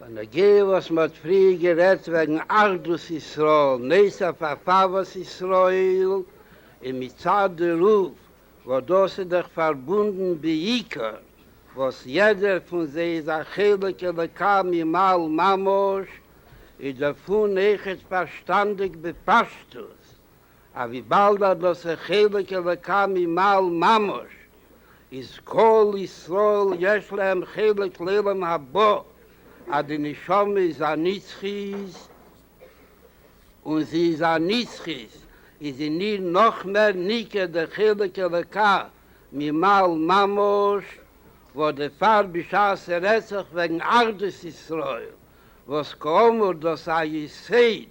בנוגע וואס מען האט פריער גערעדט וועגן אחדות ישראל, נס אויף הרחבת ישראל, און מצד דערויף וואס דאס איז דאך פארבונדן בעיקר וואס יעדער פון זיי איז א חלק אלוקי ממעל ממש, איז דערפון עכת פארשטאנדיג בפשטות אז וויבאלד אז דאס חלק אלוקה ממעל ממש איז כל ישראל יש להם חלק לעולם הבא, אז די נשמה איז א נצחית און זי איז א נצחית איז אין איר נאך מער ניכר דער חלק אלוקה ממעל ממש, וואס דערפאר בשעת ס'רעדט זיך וועגן אחדות ישראל, וואס כאמור דאס א יסוד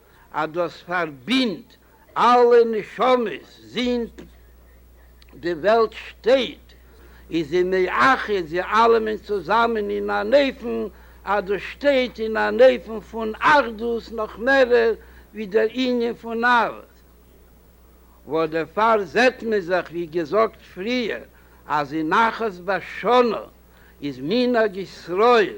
אז דאס פארבינדט אלע נשמות זינט די וועלט שטייט, איז זי מאחד זיי אלעמען צוזאמען אין אן אופן אז דאס שטייט אין אן אופן פון אחדות נאך מערער ווי דער ענין פון אהבת וואס דערפאר זעט מען זיך ווי געזאגט פריער אז אין אחת בשנה איז מנהג ישראל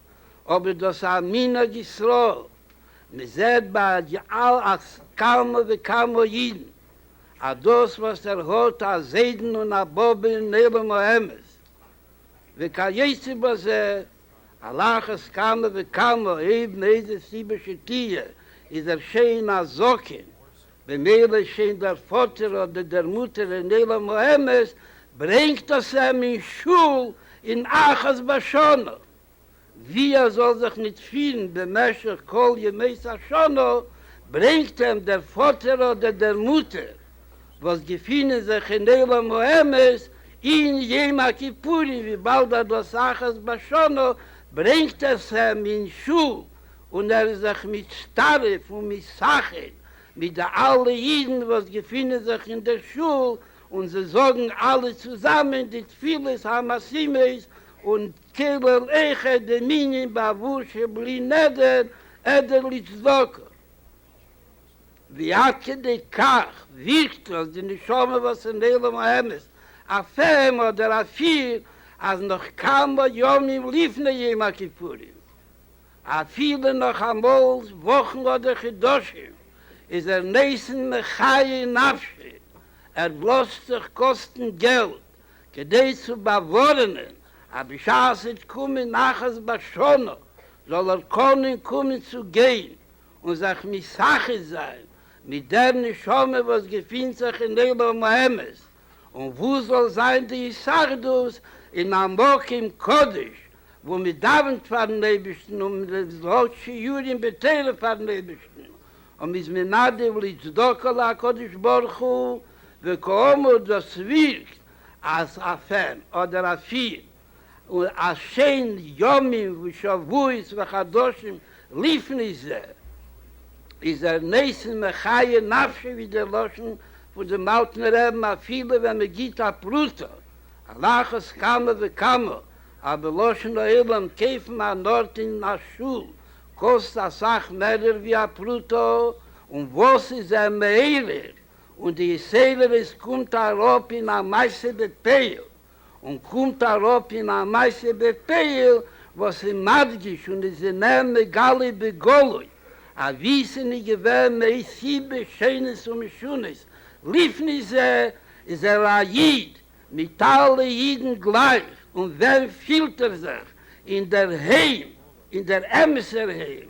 אבער דאס איז א מנהג ישראל, מען זעט ביי על אחת כמה וכמה אידן אז דאס וואס ער האט א זיידן און א באבע אין עולם האמת וכיוצא בזה, על אחת כמה וכמה אויב מאיזה סיבה שתהיה איז ער שוין א זקן במילא שוין דער פאטער אדער דער מוטער אין עולם האמת ברענגט דאס אים אין שול אין אחת בשנה ווי ער זאל זיך ניט פירן במשך כל ימות השנה, ברענגט אים דער פאטער אדער דער מוטער וואס געפינען זיך אין עולם האמת אין יום הכיפורים וויבאלד אז דאס אחת בשנה ברענגט עס אים אין שול און ער איז זיך מצטרף און מסכים מיט די אלע אידן וואס געפינען זיך אין דער שול, און זיי זאגן אלע צוזאמען די תפילות המשימות און כולל איכה דמיניה באבוה ש בלי נדר אדער לצדקה, ווי עד כדי כך וויכטיג אז די נשמה וואס אין עולם האמת אפעם אדער אפיר אז נאך כמה ימים לפני יום הכיפורים, אפילו נאך אמאל וואכן אדער חודשים, איז ער ניסן מחיה נפשי, ער לאזט זיך קאסטן געלט כדי צו באווארענען אז בשעת ס'וועט קומען אחת בשנה זאל ער קענען קומען צו גיין און זיך משחד זיין מיט דער נשמה וואס געפינט זיך אין עולם האמת, און וואו זאל זיין די הישרדות אין א מקום קדוש וואו מען דאווענט פארן אייבערשטן און מען האט שיעורים בתורה פארן אייבערשטן און מען איז מנדב לצדקה להקדוש ברוך הוא וכאמור דאס ווירקט אז א פען אדער א פיר און עשן ימים ושבועות וחדשים לפני זה, איז ער נעשה מחיה נפשו ווי די לשון פון דעם אלטן רעבן אפילו ווען מען גיט א פרוטה, על אחת כמה וכמה אז בלשון העולם קויפן אן ארט אין א שול קאסט אסאך מערער ווי א פרוטה, און וואס איז ער מעורר און די איסערער עס קומט אראפ אין א מעשה בפיו און קומט אראפ אין א מעשה בפועל וואס איז מדגיש און איז אים מער מגלה בגלוי אבי ס'נישט געווען מאי סיבה שונות ומשונות לפני זה איז ער א איד מיט אלע אידן גלייך און ווען פילט ער זיך אינדערהיים אין דער אמת'ער היים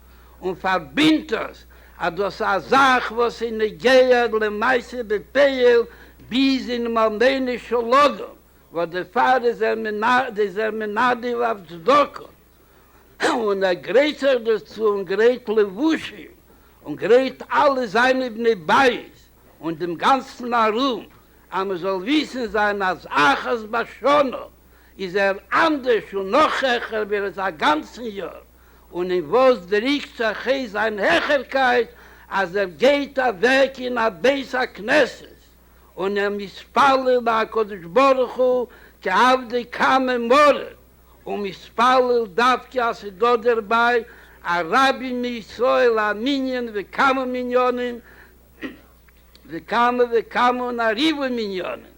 און פארבינדט עס אז דאס איז א זאך וואס איז נוגע למעשה בפועל ביז אינעם אלמענעשן לאגער, וואס דערפאר איז ער איז ער מנדב אויף צדקה, און ער גרייט זיך דערצו און גרייט לבושים און גרייט אלע זיינע בני בית און דעם גאנצן ארום, אז מען זאל וויסן זיין אז אחת בשנה איז ער אנדערש און נאך העכער ווי ער איז א גאנצן יאר. און אין וואס דריקט זיך ה' זיין העכערקייט אז ער גייט אוועק אין א בית הכנסת און ער מתפלל להקדוש ברוך הוא כעבדי קאמע מרע און מתפלל דווקא אז ס'איז דא דערביי א רבי מישראל א מנין וכמה מניינים וכמה וכמה און א ריבוי מניינים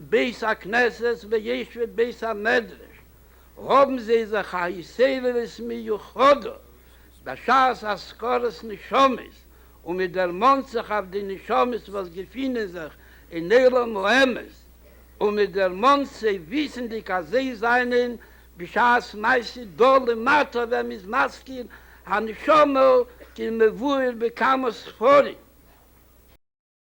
בית הכנסת וישב בית המדרש האבן זיי זיך א התעוררות מיוחדה בשעת אזכרת נשמות און מען דערמאנט זיך אויף די נשמות וואס געפינען זיך אין עולם האמת און מען דערמאנט זיי וויסענדיג אז זיי זענען בשעת מעשה דא למטה ווען מען איז מזכיר הנשמה כמבואר בכמה ספרים.